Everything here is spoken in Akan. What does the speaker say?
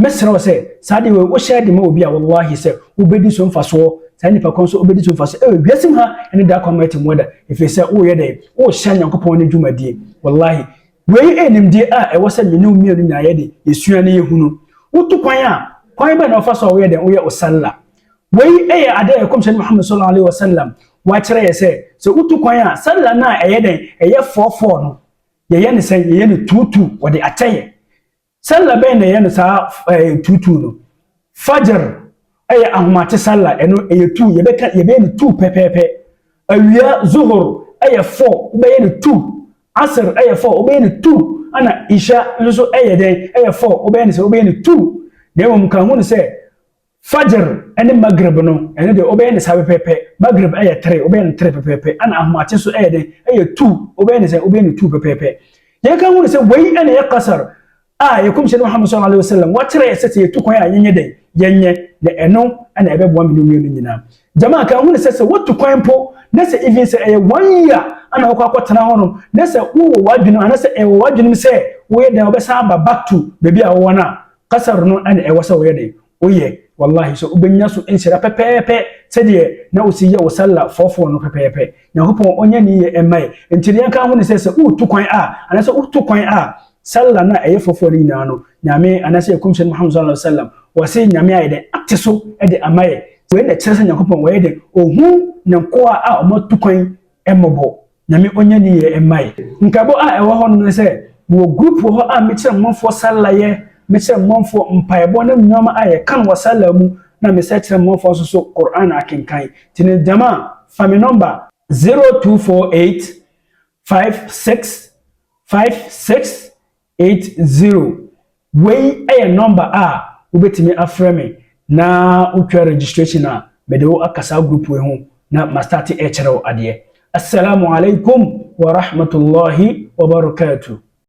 Mɛsrɛ wo sɛ, saa adeɛ wei, wohyɛ de ma obi a, wallahi sɛ, wobɛdi so mfasoɔ, saa nipa korɔ nso ɔbɛdi so mfasoɔ ɛwɔ wiase mu ha ɛne da kɔ amerɛte mu da, ɛfiri sɛ woreyɛ dɛn? Worehyɛ Nyankopɔn ne dwumadie. Wallahi, wei ɛyɛ nimdeɛ a ɛwɔ sɛ me ne wo mmienu nyinaa yɛ de, yɛsua na yɛhunu. Wotu kwan a, kwan bɛn na wofa so a woyɛ dɛn? Woyɛ wo salla. Wei ɛyɛ adeɛ a Yɛkɔmhyɛni Muhammad sallallahu alaihi wasallam wakyerɛ yɛ sɛ, sɛ wotu kwan a, salla no a ɛyɛ dɛn? Ɛyɛ fɔɔfɔɔ no, yɛyɛ no sɛn? Yɛyɛ no tuutuu, wɔde akyɛ yɛ. Sallah bɛn na ɛyɛ no saa ɛɛ tuutuu no? Fajr yɛ ahomakye sallah, ɛno ɛyɛ two, yɛbɛka yɛbɛyɛ no two pɛpɛɛpɛ. Awia, Zuhur, yɛ four, wobɛyɛ no two. Asr yɛ four, wobɛyɛ no two. Ɛna Isha nso yɛ dɛn? Ɛyɛ four, wobɛyɛ no sɛ wobɛyɛ no two. Na mmom ka hu no sɛ, Fajr ne Maghrib no, ɛno deɛ wobɛyɛ no saa pɛpɛɛpɛ. Maghrib yɛ tere, wobɛyɛ no tere pɛpɛɛpɛ. Ɛna ahomakye nso yɛ dɛn? Ɛyɛ two, wobɛyɛ no sɛ wobɛyɛ no two pɛpɛɛpɛ. Yɛn kan hunu sɛ wei na ɛyɛ qasr a yɛn kɔmhyɛni Muhammad sallallahu alaihi wasallam wakyerɛ yɛ sɛ sɛ yɛtu kwan a yɛnyɛ dɛn? Yɛnyɛ, na ɛno na ɛbɛboa me ne wie no nyinaa. Jamaa kan hunu sɛ sɛ wotu kwan mpo na sɛ even sɛ ɛyɛ one year ana wokɔ akɔtena hɔ no na sɛ wowɔ w'adwenem anasɛ ɛwɔ w'adwenem sɛ woyɛ dɛn wobɛsan aba back to baabi a wowɔ no a Kasa no na ɛwɔ sɛ woyɛ dɛn? Woyɛ. Wallahi sɛ wobɛnya so nhyira pɛpɛɛpɛ sɛdeɛ na wosi yɛ wo sallah fɔɔfɔɔ no pɛpɛɛpɛ. Nyankopɔn ɔnyɛ ne yie mma yɛ. Nti deɛ ɛka ho ne sɛ sɛ woretu kwan a anaasɛ woto kwan a sallah no a ɛyɛ fɔɔfɔɔ no nyinaa no Nyame anaasɛ Yɛkɔmhyɛni Muhammad sallallahu alaihi wasallam wɔse Nyame ayɛ dɛn? Ate so de ama yɛ. Wei na ɛkyerɛ sɛ Nyankopɔn wɔyɛ dɛn? Ɔhu Ne nkoa a wɔatu kwan mmɔbɔ. Nyame ɔnyɛ ne yie mma yɛ. Nkaebɔ a ɛwɔ hɔnom ne sɛ, mewɔ group wɔ hɔ a mekyerɛ mmɔnfoɔ salla yɛ, mekyerɛ mmɔnfoɔ mpaebɔ ne nnoɔma a yɛka no wɔ salla mu, na mesɛ kyerɛ mmɔnfoɔ nso so Qur'aan akenkan. Nti no gyama, fa me nɔmba. 0248 56 56 Eight zero, Wei yɛ nɔmba a wobɛtumi afrɛ me na wotwa registration a mede wo aka saa group wei ho na ma start rekyerɛ wo adeɛ. Asalamu alaikum wa rahmatullahi wa barakatuh.